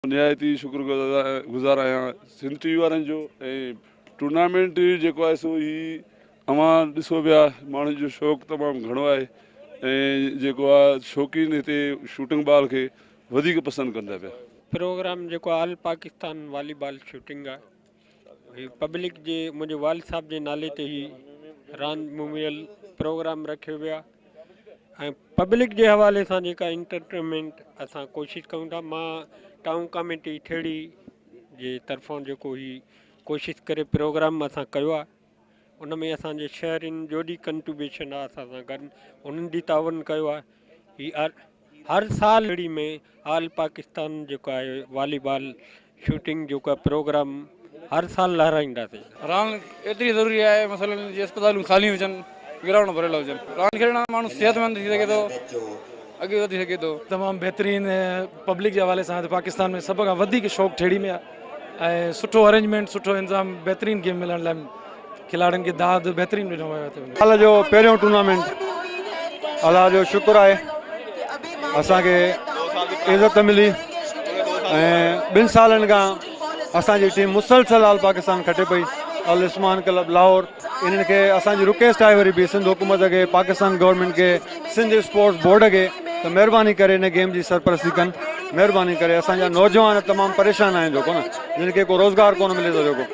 نهايت ئي شڪرگذار آهيان سنڌ ٽي وي وارن جو ۽ ٽورنامينٽ جيڪو آهي سو هي اوهان ڏسو پيا ماڻهن جو شوق تمام گهڻو آهي ۽ جيڪو آهي شوقين هتي شوٽنگ بال کي وڌيڪ پسند ڪن ٿا پيا. پروگرام جيڪو آل پاڪستان والي بال شوٽنگ آهي هي پبلڪ جي منهنجي والد صاحب جي نالي تي هي راند موميل پروگرام رکيو ويا ۽ پبلڪ جي حوالي سان جيڪا انٽرٽينمينٽ اسان ڪوشش ڪيون ٿا مان ٽائون ڪاميٽي ٺيڙهي جي طرفان جيڪو هي ڪوشش ڪري پروگرام اسان ڪيو آهي ان ۾ اسان جي شهرين جوڏي ڪنٽوبيشن آء اسان سان گڏ انهن به تعاون ڪيو آهي هي هر سال اڙي ۾ آل پاڪستان جيڪو آهي والي بال شوٽنگ جو ڪا پروگرام هر سال لهرائينداسين راند ايتري ضروري آهي مثلا جي اسپتالون خالي هجن گرائونڊ ڀريل هجن. راند کيڏڻ سان ماڻهو صحت مند ٿي سگهي ٿو اڳي وڌي سگهي ٿو. تمام بهترين پبلڪ جي حوالي سان پاڪستان ۾ سڀ کان وڌيڪ شوق ٺيڙهي ۾ آهي ۽ سٺو ارينجمينٽ سٺو انظام بهترين گيم ملڻ لاء کلاڙين کي داد بهترين ڏنو ويو آهي. سال جو پهريون ٽورنامينٽ الله جو شڪر آهي اسان کي عزت ملي ۽ ٻن سالن کان اسان جي ٽيم مسلسل آل پاڪستان کٽي پئي العثمان ڪلب لاهور انهن کي اسان جي رڪويسٽ آهي وري به سنڌ حڪومت کي پاڪستان گورنمينٽ کي سنڌ اسپورٽس بورڊ کي ته مهرباني ڪري ان گيم جي سرپرستي ڪن مهرباني ڪري اسان جا نوجوان تمام پريشان آهن جيڪو نه جن کي ڪو روزگار ڪونه ملي ٿو جيڪو